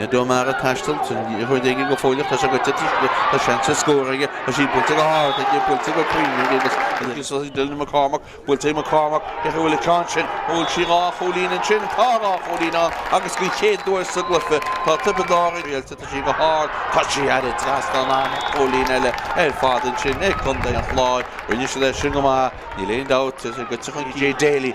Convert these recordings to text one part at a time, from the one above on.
Ned O'Mara ag taisteal, liathróid aige go fóilleach, tá sé go deacair aige, tá seans ar scór aige, tá sí buailte go hard aige, buailte go cruinn aige agus is ag Dylan McCormack, buailte ag McCormack, cé chaoi a bhfuil an ceann sin, bhfuil sí dhá chúilín ansin, tá dhá chúilín ann agus den chéad uair sa gcluiche tá Tiobraid Árann, Réalta, tá sí go hard, tá sí thar an trasnán, an-chúilín eile ar fad ansin ag Contae an Chláir, rinne siad é sin go maith, níl aon dabht, go dtiocfaidh Daly.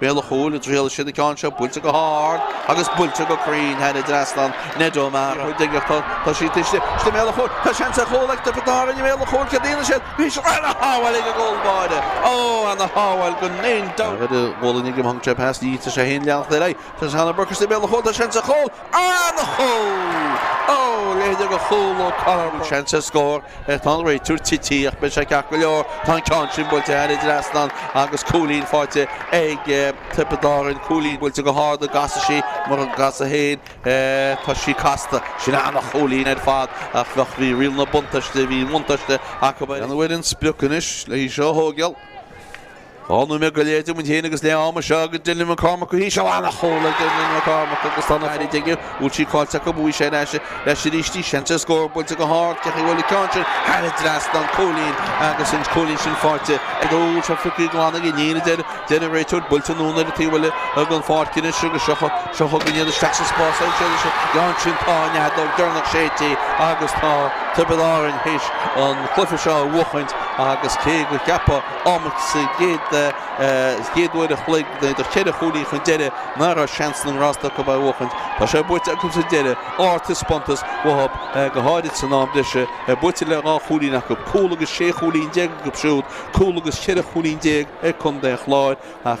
Béal an chúil, an dtriailfidh siad an ceann seo, buailte go hard agus buailte go cruinn, thar an trasnán, Ned O'Mara. Ní bheidh ach tá siad istigh, istigh i mbéal an chúil, tá seans ar chúl ag Tiobraid Árainn i mbéal an chúil, céard a dhéanfaidh siad, bhí sin ana shábháil ag an gcúl báire, ó, ana shábháil gan aon dabht! Rud a bhuaileann ag an bponc seo, pas díreach, tá sé féin ag leanacht ar aghaidh, tá Conor Burke istigh i mbéal an chúil, tá seans ar chúl, an-chúl! Ó, a leithéid de chúl ó Conor Burke. Seans ar scór Tá an réiteoir tite ach beidh sé ceart go leor. Tá an ceann sin buailte thar an trasnán agus cúilín faighte ag Tiobraid Árann. Cúilín buailte go hard an gcasfaidh sí, mura gcasfaidh féin, tá sí casta. Sin an-chúilín ar fad ach bheadh, bhí riail na buntáiste, bhí an bhuntáiste acu. An bhfuil an sprioc anois le hí seo a thógáil? Dhá nóiméad go leith díomhain féin agus leath ama seo ag Dylan McCormack go híseal, an-chúl ag Dylan McCormack agus tá na Cait ag iarraidh an bhfuil sí caillte acu, bhuaigh sé ar ais leis arís í. Seans ar scór buailte go hard, cé chaoi bhfuil an ceann sin thar an trasnán, cúilín agus an cúilín sin faighte ag an úll seo Fiacraí Glan ag iníon, a deir an réiteoir, buailte anonn ar an taobh eile den pháirc anois agus seo chugainn iad isteach sa spás ansin. Tá an fheadóg dheireanach séidte agus tá Tiobraid Árainn théis an cluiche seo a bhuachaint agus cé gur ceapadh Amach sa chéad uair an chloig, iad ceithre chúilín chun deiridh, nach raibh seans na ngrást acu é a bhuachaint. Tá sé buaite acu sa deireadh, ardtaispeántas uathub, go háirid san am breise, buaite le dhá chúilín acu, cúl agus sé chúilín déag acu siúd, cúl agus ceithre chúilín déag ag Contae an Chláir. Ach.